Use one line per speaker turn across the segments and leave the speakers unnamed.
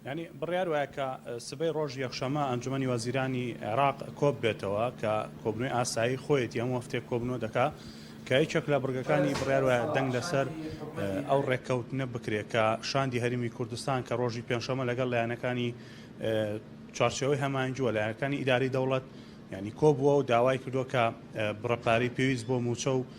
یانی بڕیار وایە کە سبەی ڕۆژ یەکشەمە ئەنجومەنی وەزیرانی عێراق کۆببێتەوە کە کۆبنەوەی ئاسایی خۆیەتی هەموو هەفتەیەک کۆبنەوە دەکا کە یەکێک لە بڕگەکانی بڕیار وایە دەنگ لەسەر ئەو ڕێککەوتنە بکرێت کە شاندی هەرمی کوردستان کە ڕۆژی پێنجشەمە لەگەڵ لایەنەکانی چوارچەوەی هەمانجووە لایەنەکانی ئیداری دەوڵەت ینی کۆبووە و داوای کردووە کە بڕەپارەی پێویست بۆ موچە و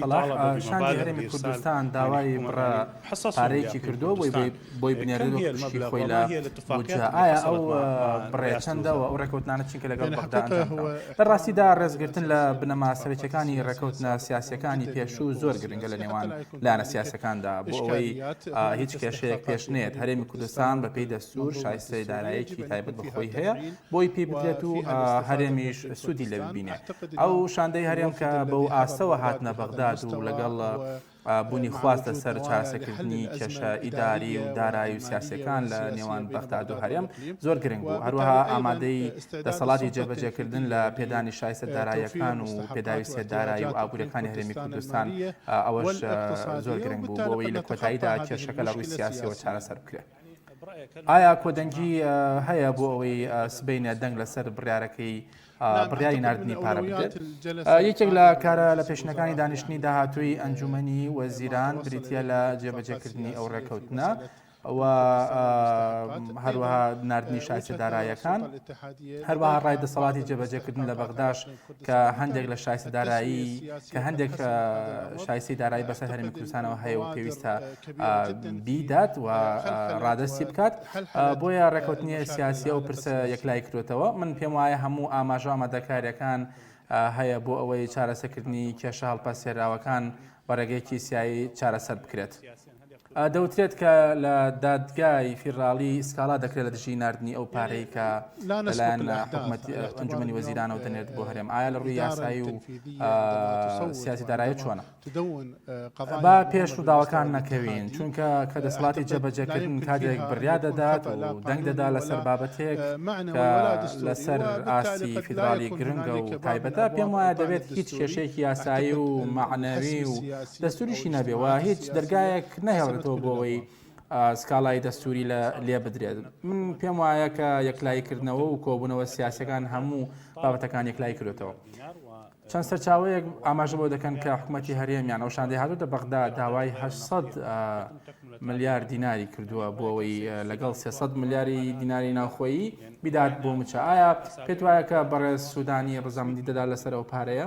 سەڵاح شاندی هەرێمی کوردستان
داوای بڕە پارەیەکی کردووە بۆی بنێرێت وەک پشکی خۆی لە بودجە، ئایا ئەو بڕە چەندە و ئەو ڕێکەوتنانە چین کە لەگەڵ بەغدا ئەنجام دراوە؟ لە ڕاستیدا ڕێزگرتن لە بنەما سەرەکییەکانی ڕێکەوتنە سیاسییەکانی پێشوو زۆر گرنگە لە نێوان لایەنە سیاسییەکاندا بۆ ئەوەی هیچ کێشەیەک پێش نەیەت، هەرێمی کوردستان بەپێی دەستوور شایستەی داراییەکی تایبەت بە خۆی هەیە، بۆی پی بدرێت و هەرێمیش سوودی لێ ببینێ. ئەو شاندەی هەرێم کە بەو ئاستەوە هاتنە بەغداد و لەگەڵ بوونی خواست لەسەر چارەسەکردنی کێشە ئیداری و دارایی و سیاسەکان لە نێوان بەغداد و هەرێم زۆر گرنگ بوو، هەروەها ئامادەی دەسەڵاتی جێبەجێکردن لە پێدانی شایستە داراییەکان و پێداویستیە دارایی و ئابووریەکانی هەرێمی کوردستان ئەوەش زۆر گرنگ بوو بۆ ئەوەی لە کۆتاییدا کێشەکە لە ڕووی سیاسیەوە چارەسەر بکرێت. ئایا کۆدەنگی هەیە بۆ ئەوەی سبەینێ دەنگ لەسەر بڕیارەکەی بڕیاری نردنی پارە بدرێت یەکێک لە کارە لە پێشنەکانی دانیشتنی داهاتووی ئەنجومنی وەزیران بریتە لە جێبەجێکردنی ئەو ڕێککەوتنە ئەوە هەروەها نردنی شاسی دارایەکان هەروەها ڕای دەسەڵاتی جێبەجێکردن لە بەغداش کە هەندێک لە شایستە دارایی کە هەندێک شایستی دارایی بەسەر هەرمی کوردستانەوە هەیە و پێویستە بیدات و ڕادستی بکات بۆیە ڕێکوتنیە سیاسیە و پرسە یەکلای کرێتەوە من پێم وایە هەموو ئاماژە ئامادەکاریەکان هەیە بۆ ئەوەی چارەسەکردنی کێشە هەڵپەسێراوەکان بەڕێگەیەکی سیایی چارەسەر بکرێت. دەوترێت کە لە دادگای فیدراڵی سکاڵا دەکرێت لە دژی ناردنی ئەو پارەی کە لەلایەن حکومەتی ئەنجومەنی وەزیرانەوە دەنێت بۆ هەرێم ئایا لە ڕووی یاسایی و سیاسی دارایی چۆنە با پێش ڕووداوەکان نەکەوین چونکە کە دەسەڵاتی جێبەجێکردن کاتێک بریا دەدات و دەنگ دەدا لەسەر بابەتێک لەسەر ئاستی فیدراڵی گرنگە و تایبەتە پێم وایە دەبێت هیچ کێشێکی یاسایی و معنەوی و دەستوریشی نەبێ و هیچ دەرگایەک نەهێڵێتەوە بۆ ئەوەی سکاڵای دەستوری لە لێ بدرێت من پێم وایە کە یەکلایی کردنەوە و کۆبوونەوە سیاسەکان هەموو بابەتەکان یەکلای کردێتەوە چەند سەرچاوەیەک ئاماژە بۆ دەکەن کە حکوومەتتی هەرێمیان ئەو شاندی هاتوتە بەغدا داوای 800 ملیار دیناری کردووە بۆ ئەوەی لەگەڵ 300 ملیاری دیناری ناوخۆیی بدات بۆ مچە ئایا پێت وایە کە بەڕێز سوودانی ڕزامندی دەدا لەسەر ئەو پارەیە؟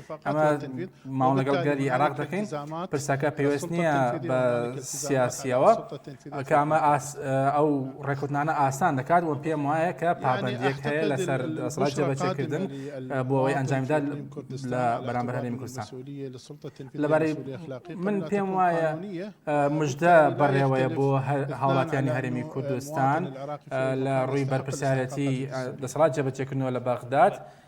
ئەمە ماوە لەگەڵ گەری عراق دەکەین پرسەکە پێوەست نییە بە سیاسیەوە ئەکە ئەمە ئەو ڕێکوتنانە ئاسان دەکات وە پێم وایە کە پابندێک هەیە لەسەر سڵات جێبەچێکردن بۆ ئەوەی ئەنجامدا لە بەرامبەر هەرێمی کوردستان لەبارەی من پێم وایە مژدە بەڕێوەیە بۆ هاوڵاتیانی هەرێمی کوردستان لە ڕووی بەرپرسیارەتی دەسەڵات جێبەچێکردنەوە لە بەغداد.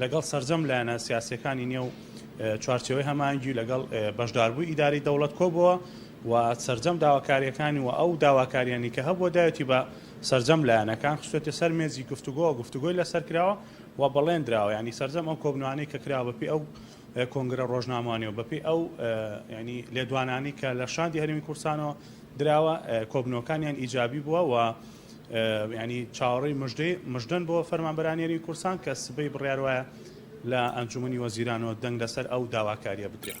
لەگەڵ سەرجەم لایەنە سیاسییەکانی نێو چوارچێوەی هەماهەنگی و لەگەڵ بەشداربووی ئیدارەی دەوڵەت کۆبووە و سەرجەم داواکارییەکانی و ئەو داواکارییانی کە هەبووە دایەتی بە سەرجەم لایەنەکان خستووەتە سەر مێزی گفتوگۆوە گفتوگۆی لەسەر کراوە و بەڵێندراوە یانی سەرجەم ئەو کۆبنەوانەی کە کراوە بەپێی ئەو کۆنگرە ڕۆژناموانەوە بەپێی ئەو ینی لێدوانانی کە لە شاندی هەرێمی کوردستانەوە دراوە کۆبنەوەکانیان ئیجابی بووە و یانی چاوەڕێی مژدەی مژدەن بۆ فەرمانبەرانی هەرێمی کوردستان کە سبەی بڕیار وایە لە ئەنجوومەنی وەزیرانەوە دەنگ لەسەر ئەو داواکارییە بدرێت.